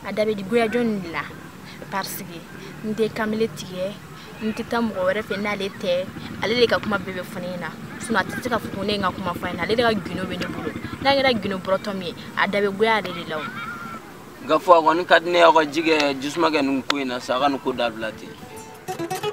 a da bɛ di goya jɔn de la parce que n tɛ kamalen tigɛ n tɛ taa mɔgɔ wɛrɛ fɛ n'ale tɛ ale de ka kuma bɛɛ bɛ fɔ ne ɲɛna sinon a tɛ se k'a fɔ ko ne ye n ka kuma fɔ a ɲɛna ale de ka gundo bɛ ne bolo n'a kɛra gundo bɔrɔtɔ min ye a da bɛ goya ale de la o n k'a fɔ a kɔni ka di ne ye aw ka ji kɛ jisuma kɛ nin ko in na sa a ka nin ko dabila ten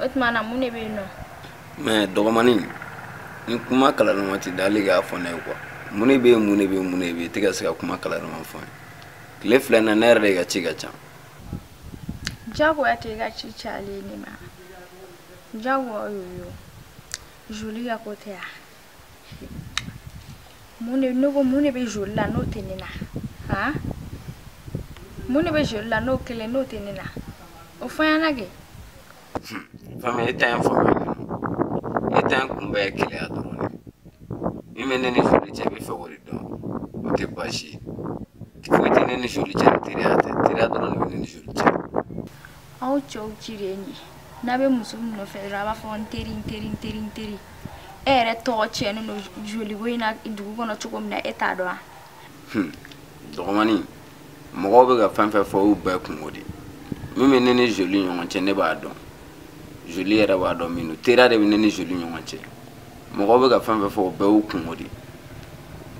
o tuma na mun de bɛ yen nɔ mais dɔgɔmanin ni kuma kalanlenma tɛ dali k'a fɔ ne ye quoi mun de bɛ yen mun de bɛ yen mun de bɛ yen tɛ ka se ka kuma kalanlenma fɔ ne ye tile fila na ne yɛrɛ de ka ci ka ca jagoya tɛ ka ci cayalen ne ma jagoya o yo joli ka ko tɛ yan mun de ne ko mun de bɛ joli la n'o tɛ ne na han mun de bɛ joli la n'o kelen n'o tɛ ne na o fɔ n ɲɛna kɛ. fami e ta ye fanga ye e ta ye kunbɛ ye keleya dɔrɔn de min bɛ ne ni joli cɛ b'a fɛ k'o de dɔn o tɛ baasi ye foyi tɛ ne ni joli cɛ ni teriya tɛ teriya dɔrɔn de bɛ ne ni joli cɛ. aw cɛw ci de ye nin ye n'a bɛ muso min nɔfɛ dɔrɔn a b'a fɔ n teri n teri n teri n teri e yɛrɛ tɔgɔ tiɲɛnen don joliko in na dugu kɔnɔ cogo min na e t'a dɔn wa dɔgɔmani mɔgɔw bɛ ka fɛn fɛn fɔ y'u bɛɛ kunko de min bɛ ne ni joli ɲɔgɔn cɛ ne b'a dɔn joli yɛrɛ b'a dɔn min don teriya de bɛ ne ni joli ɲɔgɔn cɛ mɔgɔw bɛ ka fɛn fɛn fɔ o bɛɛ y'u kunko de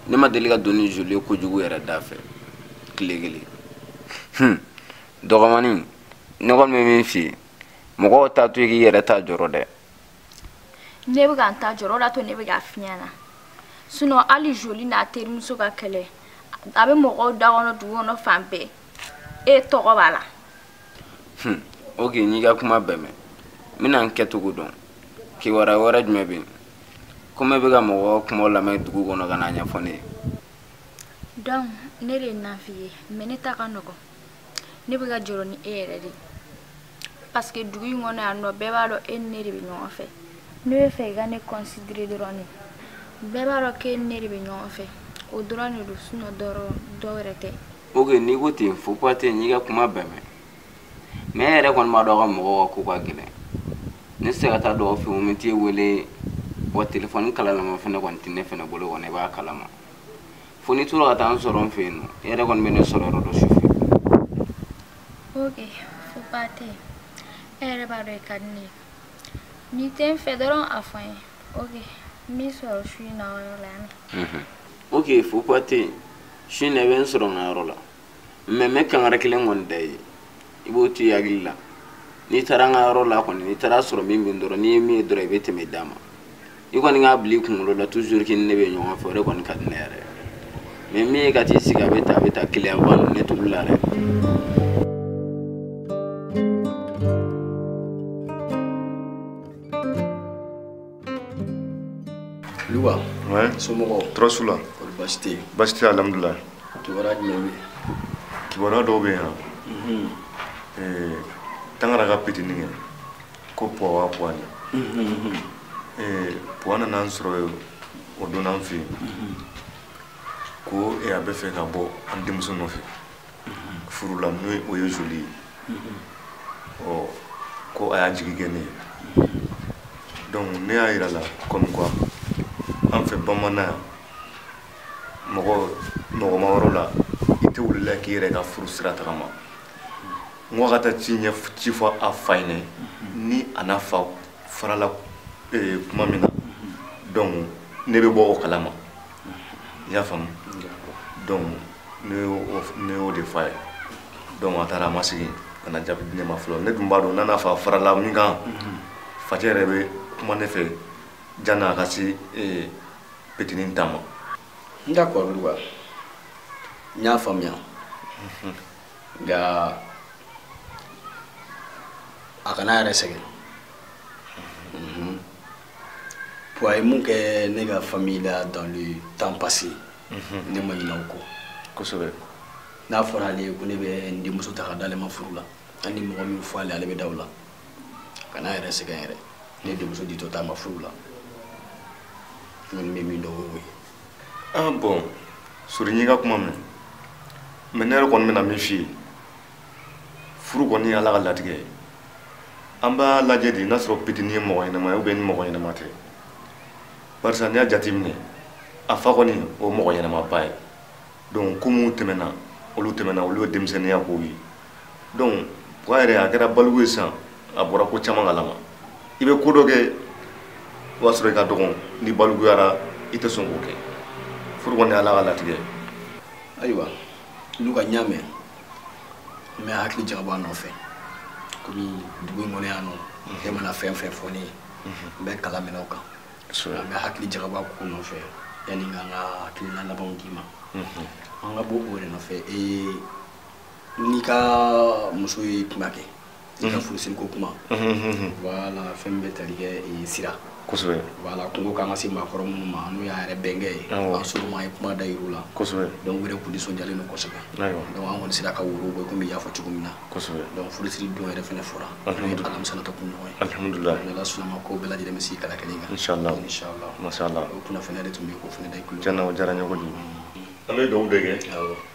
ne ma deli ka don ni joli ye kojugu yɛrɛ da fɛ tile kelen dɔgɔmani ne kɔni bɛ min f'i ye mɔgɔw t'a to i k'i yɛrɛ ta jɔrɔ dɛ ne bɛ ka n ta jɔrɔ o de y'a to ne bɛ k'a f'i ɲɛna sinon hali joli n'a terimuso ka kɛlɛ a bɛ mɔgɔw da kɔnɔ dugu kɔnɔ fan bɛɛ e tɔgɔ b'a la hmm. ok n'i ka kuma bɛɛ mɛn n bɛna n kɛcogo dɔn kibaruya wɛrɛ jumɛn bɛ yen komi e bɛ ka mɔgɔ kumaw lamɛn dugu kɔnɔ ka n'a ɲɛfɔ ne ye donc ne de ye nafigi ye mais ne ta ka nɔgɔn ne bɛ ka jɔrɔ ni e yɛrɛ de parce que dugu in kɔnɔ yan nɔ bɛɛ b'a dɔn e ni ne de bɛ ɲɔgɔn fɛ ne b'a fɛ i ka ne considérer dɔrɔn de bɛɛ b'a dɔn k'e ni ne de bɛ ɲɔgɔn fɛ o dɔrɔn de don sinon dɔ wɛrɛ tɛ ok n'i ko ten fo ba tɛ n'i ka kuma bɛɛ mɛn mais e yɛrɛ kɔni b'a dɔn aw ka mɔgɔw ka ko ka gɛlɛn ne se ka taa dɔw fɛ yen n bɛ t'e wele wa telefɔni kalalama fana kɔni tɛ ne fana bolo kɔni i b'a kalama fo n'i tora ka taa n sɔrɔ n fɛ yen nɔ e yɛrɛ kɔni bɛ ne sɔrɔ yɔrɔ dɔn su fɛ ok fo ba tɛ yen e yɛrɛ b'a dɔn i ka di ne ye n'i tɛ n fɛ dɔrɔn a fɔ n ye ok n b'i sɔrɔ su in na o yɔrɔ la yan ok fo ba tɛ yen su in na i bɛ n sɔrɔ n ka yɔrɔ la mɛ mɛ kangara kelen kɔni da ye i b'o to i hakili la n'i taara an ka yɔrɔ la kɔni n'i taara a sɔrɔ min mɛn dɔrɔn n'i ye min ye dɔrɔn i bɛ tɛmɛ i dama i kɔni k'a bila i kunkolo la toujours k'i ni ne bɛ ɲɔgɔn fɛ o de kɔni ka di ne yɛrɛ mɛ min ye ka t'i sigi a bɛ ta a bɛ ta keleya ba ninnu ne t'olu la dɛ Luka. Ouais. Somɔgɔw. Tɔɔrɔ si t'u la. Kɔri baasi tɛ yen. Baasi tɛ alhamdulilayi. Kibaruya jumɛn bɛ yen? Kibaruya dɔw bɛ yen. Unhun. Ee Tangara ka petinin kɛ ko Puwa Puwa nin. Unhun. Ee Puwa nana an sɔrɔ yen o don an fɛ yen. Unhun. Ko ee a bɛ fɛ ka bɔ an denmuso nɔfɛ. furu la n'o o ye zoli ye ɔ ko a y'a jigi kɛ ne ye donc ne y'a yira a la comme quoi an fɛ bamanan yan mɔgɔma yɔrɔ la i tɛ wuli la k'i yɛrɛ ka furu sira tagama n ko a ka taa ci ɲɛ ci fɔ a fa ɲɛ na ni a n'a fa farala eh, kuma min na donc ne bɛ bɔ o kalama i y'a faamu donc ne y'o de fɔ a ye donc a taara a ma segin ka na jaabi di ne ma fɔlɔ ne dun b'a dɔn n'a n'a fa farala min kan facɛ yɛrɛ bɛ kuma ne fɛ jani a ka se petinin ta ma d'accord luka n y'a faamuya nka a kan'a yɛrɛ sɛgɛn bon a ye min kɛ ne ka famille la dans le temps passé mhm. ne ma ɲinɛ o kɔ kosɛbɛ n'a fɔra ale ye ko ne bɛ n denmuso ta ka d'ale ma furu la hali ni mɔgɔ min fɔ ale ale bɛ da o la kan'a yɛrɛ sɛgɛn yɛrɛ ne denmuso ditɔ t'a ma furu la n kɔni bɛ min dɔn o y'o ye ah bon sori n y'i ka kuma mɛn mɛ ne yɛrɛ kɔni bɛna min f'i ye furu kɔni ye ala ka latigɛ ye an b'a lajɛ de n'a sɔrɔ pitini ye mɔgɔ ɲɛnama ye ubiyɛn ni mɔgɔ ɲɛnama tɛ barisa n'i y'a jateminɛ a fa kɔni o mɔgɔ ɲɛnamaba ye donc ko minnu tɛmɛna olu tɛmɛna olu ye denmisɛnninya kow ye donc puwa yɛrɛ a kɛra baliku ye sisan a bɔra ko caman kalama i bɛ ko dɔ kɛ o b'a sɔrɔ i ka dɔgɔn n'i balikuyara i tɛ sɔn k'o kɛ furu kɔni ye ala ka latigɛ ye ayiwa luka n y'a mɛn n bɛ hakili jagabɔ a nɔfɛ komi dugu in kɔnɔ yan nɔ e mana fɛn fɛn fɔ ne ye n bɛ kalan minɛ o kan n bɛ hakili jagabɔ a ko nɔfɛ yanni n ka n ka hakilina labanw d'i ma an ka bɔ o yɛrɛ nɔfɛ ee n'i ka muso ye kuma kɛ i ka furusiri ko kuma voilà fɛn bɛ tali kɛ sira kosɛbɛ voilà kun ko k'an ka se maakɔrɔ minnu ma n'o y'a yɛrɛ bɛnkɛ ye an ser'olu ma an ye kuma da yir'u la kosɛbɛ donc u yɛrɛ kun nisɔndiyalen don kosɛbɛ donc an kɔni sera ka woro bɔ komi y'a fɔ cogo min na kosɛbɛ donc furusiri don yɛrɛ fɛnɛ fɔra n'o ye alamisa nata kunɲɔgɔn ye alhamdulila ala sɔnn'a ma ko bɛɛ lajɛlen bɛ sigi kala kelen kan inshallah inshallah mashallah o kunnafoniya de tun bɛ yen k'o fɛnɛ da i kulo tiɲɛna o diyara n ye kojugu an bɛ dugawu de kɛ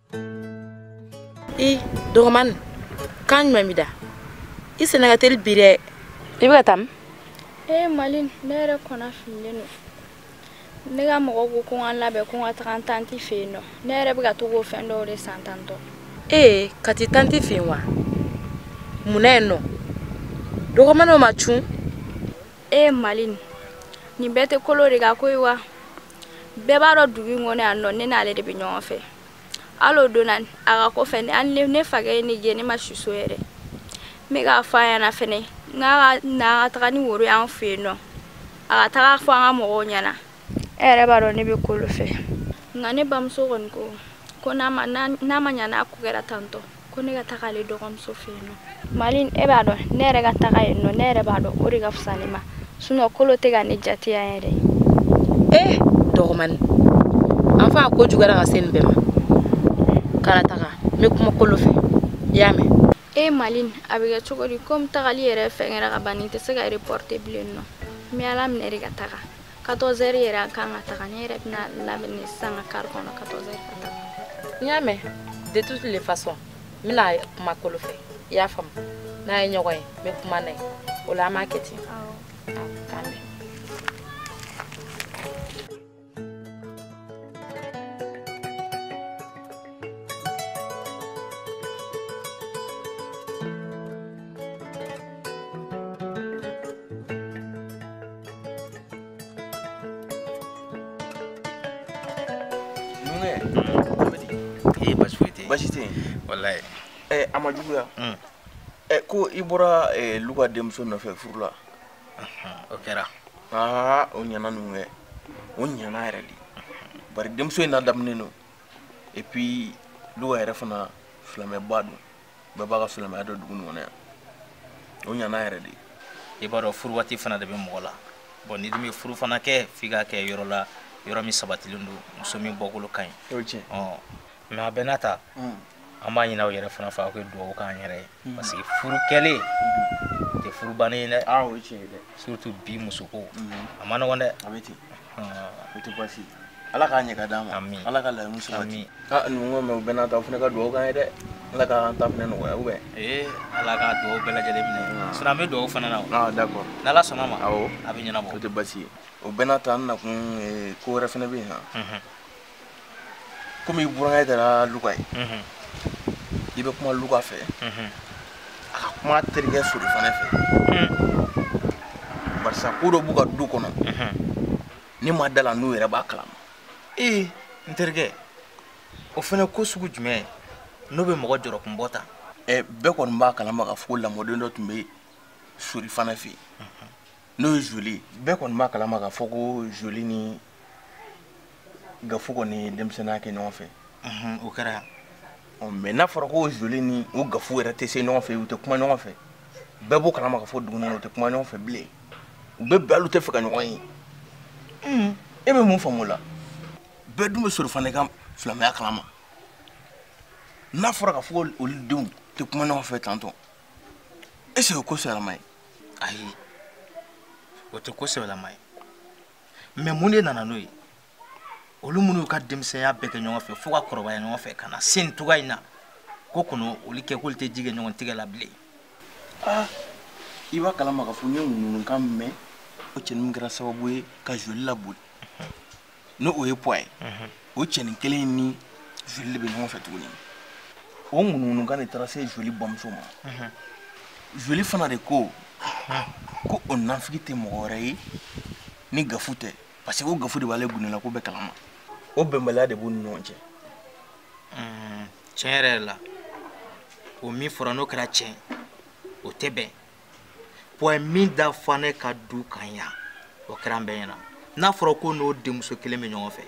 i dɔgɔmani kan jumɛn b'i da i senna ka teli bi dɛ i bɛ ka taa min ee malin ne yɛrɛ kɔnɔ fililen don ne ka mɔgɔ ko ko n ka labɛn ko n ka taga n tanti fɛ yen nɔ ne yɛrɛ bɛ ka tag'o fɛn dɔw de san tantɔ ee ka t'i tanti fɛ yen wa mun na yen nɔ dɔgɔmaniw ma cun ee malin nin bɛɛ tɛ kolo de ka ko ye wa bɛɛ b'a dɔn dugu in kɔnɔ yan nɔ ne n'ale de bɛ ɲɔgɔn fɛ hali o don na a ka ko fɛ hali ne fakɛ ye ne gɛn ne ma si so yɛrɛ n bɛ k'a fɔ a ɲɛna fɛnɛ n k'a ka taga ni woro y'an fɛ yen nɔ a ka taga fɔ an ka mɔgɔw ɲɛna e yɛrɛ b'a dɔn ne bɛ kolo fɛ nka ne bamuso kɔni ko n'a ma ɲa n'a ko kɛra tantɔ ko ne ka taga ale dɔgɔmuso fɛ yen nɔ malin e b'a dɔn ne yɛrɛ ka taga yen nɔ ne yɛrɛ b'a dɔn o de ka fisa ne ma sinon kolo tɛ ka ne jate yan yɛrɛ ee eh, dɔgɔmani an fa ko juguyara ka se nin bɛɛ ma kana taga n bɛ kuma kolo fɛ i y'a mɛn e malin a bɛ kɛ cogo di komi tagali yɛrɛ fɛn kɛra ka ban nin tɛ se ka reporter bilen nɔ n bɛ ala minɛ de ka taga 14 heures yɛrɛ an kan ka taga ne yɛrɛ bɛna labɛn ni sisan ka kari kɔnɔ 14 heures ka taga n y'a mɛn de toutes les façons n bɛna kuma kolo fɛ i y'a faamu n'an ye ɲɔgɔn ye n bɛ kuma n'a ye o la an b'a kɛ ten k'an bɛn ee basi foyi tɛ yen basi tɛ yen walayi ɛ a ma juguya ɛ ko i bɔra ɛ luka denmuso nɔfɛ furu la o kɛra aa o ɲana ninnu kɛ o ɲana yɛrɛ de bari denmuso in ladamunen don et puis luka yɛrɛ fana silamɛba don bɛɛ b'a ka silamɛya dɔn dugu nin kɔnɔ yan o ɲana yɛrɛ de i b'a dɔn furu waati fana de bɛ mɔgɔ la bon n'i dun bɛ furu fana kɛ f'i ka kɛ yɔrɔ la yɔrɔ min sabatilen don muso min bɔkolo ka ɲi mais a bɛɛ n'a ta mm. an b'a ɲin'aw yɛrɛ fana fɛ aw ka dugawu k'an yɛrɛ ye mm. parce que furu kɛlen tɛ furu bannen ye dɛ surtout bi musoko mm-hmm. a ma nɔgɔn dɛ o tɛ baasi ye ala k'a ɲɛ ka d'an ma ala ka laɲini sabati a ninnu ko mɛ u bɛɛ n'a ta aw fana ka dugawu k'an ye dɛ ala k'an ta fana nɔgɔya ou bien ala ka dugawu bɛɛ lajɛlen minɛ sinɔn an bɛ dugawu fana na o ah, d'accord n'ala sɔnna ma awɔ a bɛ ɲɛnabɔ o tɛ baasi ye o bɛɛ n'a ta an nakun ko wɛrɛ fana bɛ yen han komi i burankɛ kɛra luka ye i bɛ kuma luka fɛ a ka kuma terikɛ sori fana fɛ barisa ko dɔ b'u ka du kɔnɔ ne ma da la n'u yɛrɛ b'a kalama ee n terikɛ o fana ko sugu jumɛn n'o bɛ mɔgɔ jɔrɔkun bɔ ta bɛɛ kɔni b'a kalama ka fɔ ko lamɔden dɔ tun bɛ sori fana fɛ yen n'o ye joli bɛɛ kɔni b'a kalama k'a fɔ ko joli ni gafu kɔni ye denmisɛnninya kɛ ɲɔgɔn fɛ o kɛra mɛ n'a fɔra ko joli ni o gafu yɛrɛ tɛ se ɲɔgɔn fɛ u tɛ kuma ɲɔgɔn fɛ bɛɛ b'o kalama ka fɔ du kɔnɔna u tɛ kuma ɲɔgɔn fɛ bilen u bɛɛ bɛɛ hali u tɛ fɛ ka ɲɔgɔn ye e bɛ mun faamu o la bɛɛ dun bɛ sori fana ka silamɛya kalama n'a fɔra ka fɔ olu denw tɛ kuma ɲɔgɔn fɛ tɔntɔn est ce que o ko sɛbɛlama ye ayi o tɛ ko sɛbɛlama ye mɛ mun de nana n'o ye olu minnu y'u ka denmisɛnya bɛɛ kɛ ɲɔgɔn fɛ fo ka kɔrɔbaya ɲɔgɔn fɛ ka na se nin cogoya in na ko kɔnɔ olu kɛ k'olu tɛ ji kɛ ɲɔgɔn tɛgɛ la bilen ah, i b'a kalama k'a fɔ n ye ŋunuŋunukan mɛn o cɛnin min kɛra sababu ye ka joli laboli ni o ye puwa ye o cɛnin kelen ni joli de bɛ ɲɔgɔn fɛ tuguni o ŋunuŋunukan de taara se joli bamuso ma joli fana de ko ko o nafigi tɛ mɔgɔ wɛrɛ ye ni gafu tɛ parce que o gafu de b'ale gundola ko bɛɛ kalama o bɛnbaliya de b'u ni ɲɔgɔn cɛ tiɲɛ yɛrɛ la o min fɔra n'o kɛra tiɲɛ o tɛ bɛn puwa ye min da fanɛ ka du kan yan o kɛra an bɛɛ ɲɛna n'a fɔra ko n'o denmuso kelen bɛ ɲɔgɔn fɛ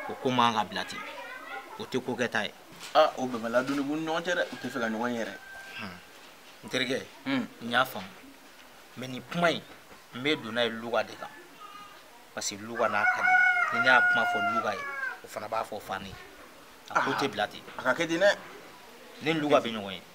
o ko man ka bila ten o tɛ ko kɛta ye aa o bɛnbaliya dun b'u ni ɲɔgɔn cɛ dɛ u tɛ fɛ ka ɲɔgɔn ye yɛrɛ n terikɛ n y'a faamu mɛ nin kuma in n bɛ don n'a ye luka de kan parce que luka n'a ka di ni ne y'a kuma fɔ luka ye o fana b'a fɔ fanɛ ye a ko tɛ bila ten a ka kɛ ten dɛ ni luka bɛ ɲɔgɔn ye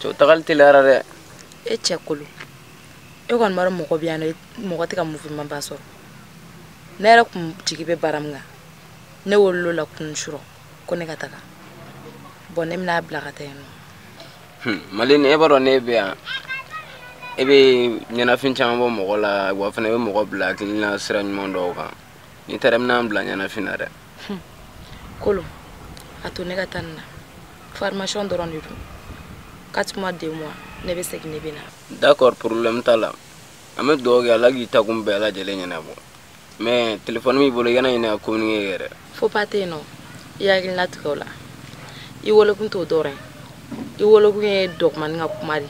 cɛw tagali teliyara dɛ e cɛ kolo e kɔni b'a dɔn mɔgɔ bɛ yan nɔ mɔgɔ tɛ ka mouvement ba sɔrɔ ne yɛrɛ tun jigi bɛ baara min kan ne welela a la kunun surɔ ko ne ka taga bɔn ne bɛna bila ka taa yen nɔ hmm, malini e b'a dɔn ne bɛ yan e bɛ ɲɛnafin caman bɔ mɔgɔ la wa fana i bɛ mɔgɔ bila hakilina sira ɲuman dɔw kan n'i taara i bɛna n bila ɲɛnafin na dɛ kɔrɔ a to ne ka taa nin na formation dɔrɔn de don quatre mois deux mois ne bɛ segin ne bɛ na d'accord problème t'a la an bɛ dugawu kɛ ala k'i taakun bɛɛ lajɛlen ɲɛnabɔ mais téléphone b'i bolo i kana ɲinɛ ka communiquer kɛ dɛ faux pas tɛ yen nɔ i hakili latigɛ o la i welekun t'o dɔrɔn ye i welekun ye dɔgɔmani ka kuma de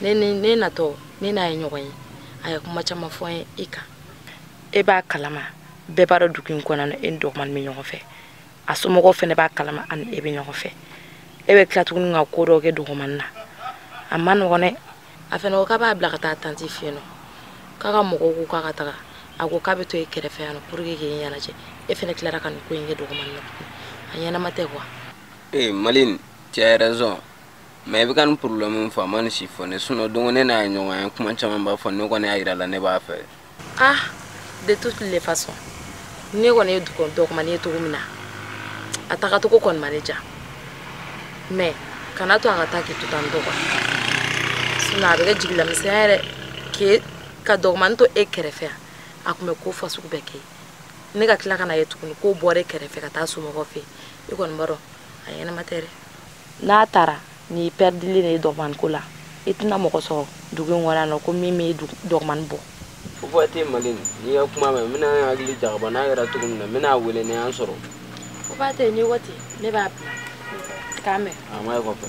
ye ne natɔ ne n'a ye ɲɔgɔn ye a ye kuma caman fɔ n ye i kan e b'a kalama bɛɛ b'a dɔn dugu in kɔnɔ na e ni dɔgɔmani bɛ ɲɔgɔn fɛ a somɔgɔw fɛnɛ b'a kalama a ni e bɛ ɲɔgɔn fɛ e bɛ tila tuguni ka ko dɔw kɛ dɔgɔmani na a ma nɔgɔn dɛ a fɛnɛ ko k'a b'a bila ka taa tanti fɛ yen nɔ k'a ka mɔgɔw ko k'a ka taga a ko k'a bɛ to e kɛrɛfɛ yan nɔ pour que k'e ɲɛnajɛ e fɛnɛ tilara ka nin ko in kɛ dɔgɔmani na tuguni a ɲɛnama tɛ quoi ee eh, malin tu as raison mais i bɛ ka nin problème min fɔ a ma nin si fɔ ne sinon don ko ne n'a ye ɲɔgɔn ye kuma caman b'a fɔ ne kɔni y'a yira la ne b'a fɛ ah de toutes les façons ne kɔni ye dɔgɔmani ye cogo min na a tagacogo kɔni ma ne diya mais kana to a ka taa k'i to tan dɔgɔ sinon a bɛ kɛ jigilamisɛnya yɛrɛ k'e ka dɔgɔmani to e kɛrɛfɛ yan a tun bɛ ko fa sugu bɛɛ kɛ ne ka tila ka na ye tuguni k'o bɔra e kɛrɛfɛ ka taa somɔgɔw fɛ i kɔni b'a dɔn a ɲɛnama tɛ dɛ n'a taara ni pɛridili de ye dɔgɔmani ko la i tɛna mɔgɔ sɔrɔ dugu in kɔnɔ yan nɔ ko min bɛ dɔgɔmani bɔ faux pas tɛ malin n y'i ka kuma mɛn n bɛna n hakili jagaba n'a kɛra cogo min na n bɛn'i wele ni an sɔrɔ faux pas tɛ ni waati ne b'a bila k'a mɛn a ma ye kɔfɛ